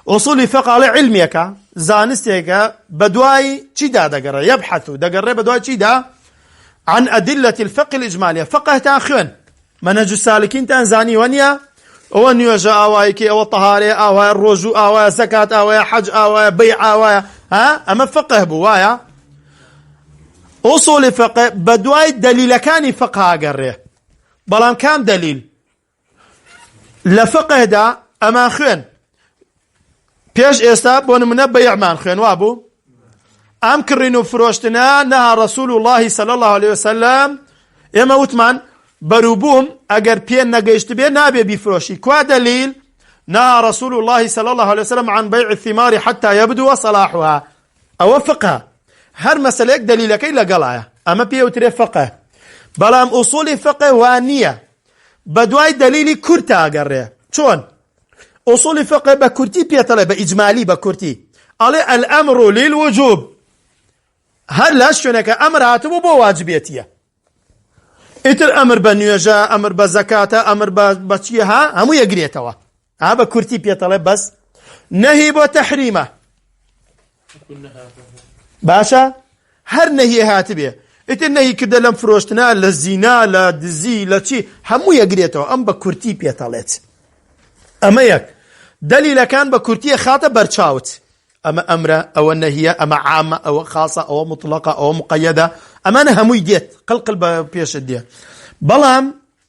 ئوسولی فیقە ئەڵێ عیلمێکە، زانستێکە، بەدوای چیدا دەگەڕێ، یەبحەثو، دەگەڕێ بەدوای چیدا، عن ادلە الفقه الاجمالیە، فقهتان خوێند، منهج السالکینتان زانیوە نیە؟ ئەوە نوێژە ئاوای کەی، ئەوە تەهارەیە ئاوایە، ڕۆژوو ئاوایە، زەکات ئاوایە، حەج ئاوایە، بەیع ئاوایە، ها ئەمە فقه بوو وایە؟ ئوسولی فقە بەدوای دەلیلەکانی فقە ئەگەڕێ، بەڵام کام دەلیل؟ لە فقهدا ئەمان خوێن پێش ئێستا بۆ نمونە بەیعمان خوێن وابوو ئەم کڕین و فرۆشتنە نەها ڕسول اللهی سەل الله عليه وسلم ئێمە وتمان بەروبووم ئەگەر پێ نەگەیشت بێ نابێ بیفرۆشی کوا دەلیل نها رسول الله صلى الله عليه وسلم عن بيع الثمار حتى يبدو صلاحها ئەوە فقه هەر مەسلەیەک دلیلەکەی لەگەڵایە ئەمە پێوترێ فقه بەڵام ئوسولی فقه وانە بەدوای دەلیلی کورتە ئەگەڕێ چۆن ئوسولی فقە بە کورتی پێتەڵێ بە ئیجمالی بە کورتی ئەڵێ الامر للوجوب هەر لە شوێنەکە ئەمر هاتبوو بۆ واجبێتیە ئیتر ئەمر بە نوێژە ئەمر بە زەکاتە ئەمر بە بەچیە ها هەموو یەگرێتەوە ئا بە کورتی پێتەڵێ بەس نەهی بۆ تەحریمە باشە هەر نەهی هاتبێ ئیتر نەهی کردە لەم فرۆشتنا لە زینا لە دزی لە چی هەموو یەگرێتەوە ئەم بە کورتی پێتەڵێت ئەمە یەک دەلیلەکان بە کورتیە خاتە بەرچاوت ئەمە ئەمرە ئەوە نەهیە ئەمە عامە ئەوە خاصە ئەوە مطلقە ئەوە مقەدە ئەمانە هەمووی دێت قلقل بە پێشت دێ بەڵام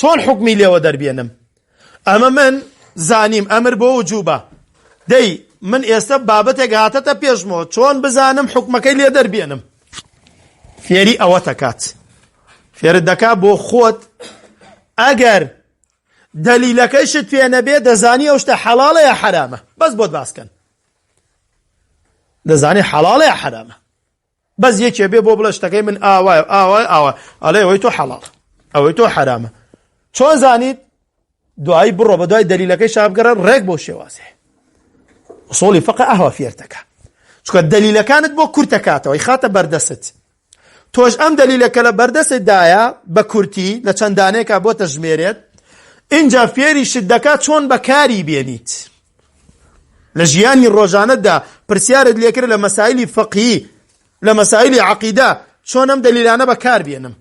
چۆن حوکمی لێوە دەربێنم ئەمە من زانیم ئەمر بۆ وجوبە دەی من ئێستا بابەتێک هاتەتە پێشمەوە چۆن بزانم حکومەکەی لێ دەربێنم فێری ئەوە تەکات فێرت دەکا بۆ خۆت ئەگەر دەلیلەکەیشت پێ نەبێ دەزانی ئەو شتە حەڵاڵە یا حەرامە بەس بۆت باسکەن دەزانی حەڵاڵە یا حەرامە بەس یەکێ بێ بۆ بڵێ شتەکەی من ئاوایە ئاوای ئاوا ئەڵێ ئەوەی تۆ حەڵاڵ ئەوەی تۆ حەرامە چۆن زانیت دوایی بڕۆ بە دوای دەلیلەکەی شابگەرە ڕێک بۆ شێوازێ سۆڵی فەق ئەهوا فێرتەکە چکە دەلیلەکانت بۆ کورتەکاتەوەی خاتە بەردەست تۆش ئەم دەلیلەکە لە بەردەست دایە بە کورتی لە چەندانێکا بۆ تەژمێرێت اینجا فێری شت دەکات چۆن بەکاری بێنیت لە ژیانی ڕۆژانەتدا پرسیارت لێکرد لە مەسایلی فەقهی لە مەسایلی عەقیدە چۆن ئەم دەلیلانە بەکار بێنم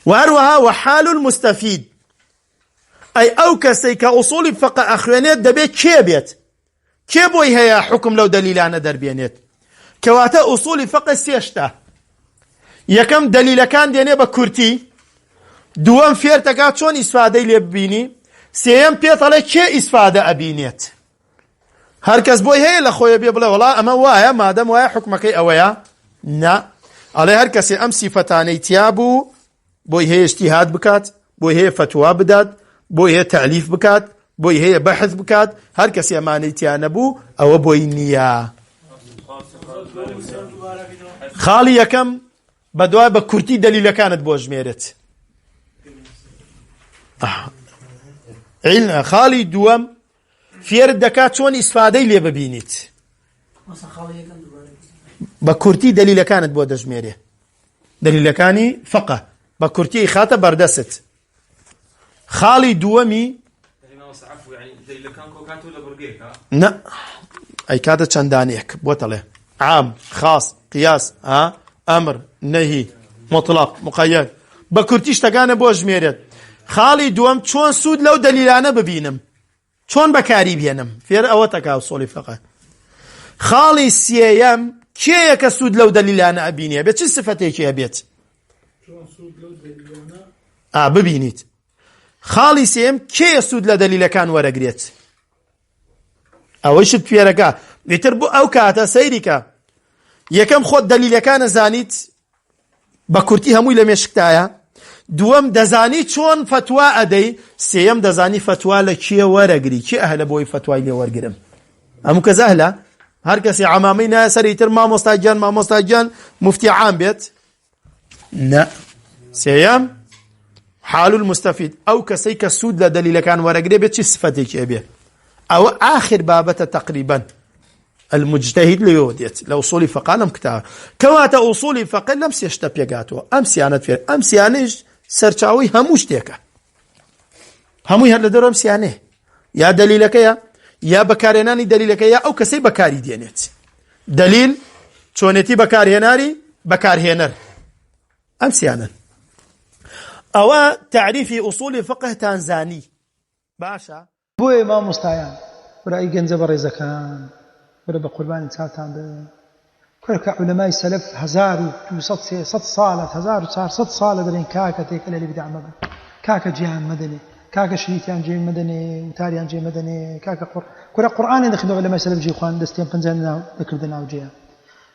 و هەروەها وحال المستفید ئەی ئەو کەسەی کە ئوسوڵی فەقە ئەخوێنێت دەبێت کێ بێت کێ بۆی هەیە حکم لەو دەلیلانە دەربێنێت کەواتە ئوسوڵی فەقە سێشتە یەکەم دەلیلەکان دێنێ بە کورتی دووەم فێرتەکە چۆن ئیسفادەی لێ ببینی سێەم پێتەڵێ کێ ئیسفادە ئەبینێت هەرکەس بۆی هەیە لە خۆیە بێ بڵێ وڵا ئەمە وایە مادەم وایە حکومەکەی ئەوەیە نا ئەڵێ هەر کەسێ ئەم سیفەتانەی تیا بوو بۆی هەیە اجتهاد بکات، بۆی هەیە فتوا بدات، بۆی هەیە تالیف بکات، بۆی هەیە بەحث بکات، هەر کەسێ ئەمانەی تیا نەبوو ئەوە بۆی نییە. خاڵی یەکەم بەدوای بە کورتی دەلیلەکانت بۆ ژمێرێت. خاڵی دووەم فێرت دەکات چۆن ئیسفادەی لێ ببینیت. بە کورتی دەلیلەکانت بۆ دەژمێرێ دەلیلەکانی فقە بە کورتی ئیخاتە بەردەست خاڵی دووەمی نە ئەیکاتە چەندانێک بۆتەڵێ عام خاص قیاس ها ئەمر نەهی مطلق مقەیەت بە کورتی شتەکانە بۆ ژمێرێت خاڵی دووەم چۆن سوود لەو دەلیلانە ببینم چۆن بەکاری بێنم فێر ئەوەتەکا و سۆڵی فەقە خاڵی سێیەم کێیە کە سوود لەو دەلیلانە ئەبینێ بێ چ سفەتێکی هەبێت ئا ببینیت خاڵی سێم کێ سوود لە دەلیلەکان وەرەگرێت ئەوەی شت پێرەکە ئیتر بۆ ئەو کاتە سەیریکە یەکەم خۆت دەلیلەکانە زانیت بە کورتی هەمووی لە مێشکتایە دووەم دەزانی چۆن فەتوا ئەدەی سێەم دەزانی فەتوا لە کێ وەرەگری کێ ئەهلە بۆی فەتوای لێ وەرگرم ئەم کە زەهلە هەر کەسی عمامی نایە سەری تر مامۆستا گیان مامۆستا گیان مفتی عام بێت نە سێەم حال المستفید ئەو کەسەی کە سوود لە دەلیلەکان وەرەگرێ بێت چی سفەتێکی ئەبێ ئەوە ئاخر بابەتە تقریبا المجتهد لەوێوە دێت لە ئوسولی فەقا لەم کتابە کەواتە ئوسولی فەقە لەم سێ شتە پێگاتەوە ئەم سیانەت فێر ئەم سیانەش سەرچاوی هەموو شتێکە هەمووی هەر لە دەرم سیانێ یا دلیلەکەیە یا بەکارێنانی دلیلەکە یا ئەو کەسەی بەکاری دێنێت دلیل چۆنێتی بەکارهێناری بەکارهێنەر ئەم سیانن ئەوە تعریفی ئوسولی فقهتان زانی باشە بۆیە مامۆستایان برای گەنجە بەڕێزەکان برا بە قوربانی چاوتان بم کورە کە عولەمای سەلەف هەزار و دوو سەد سێ سەد ساڵە هەزار و چار سەد ساڵە دەڵێن کاکە تێکەل لە بیدع مەبە کاکە جێیان مەدەنێ کاکە شریتیان جێ مەدەنێ وتاریان جێ مەدەنێ کاکە قڕ کورە قورئانیان دەخوێنەوە عولەمای سەلەف جێ خوان دەستیان پەنجەیان دەکردە ناو جێیان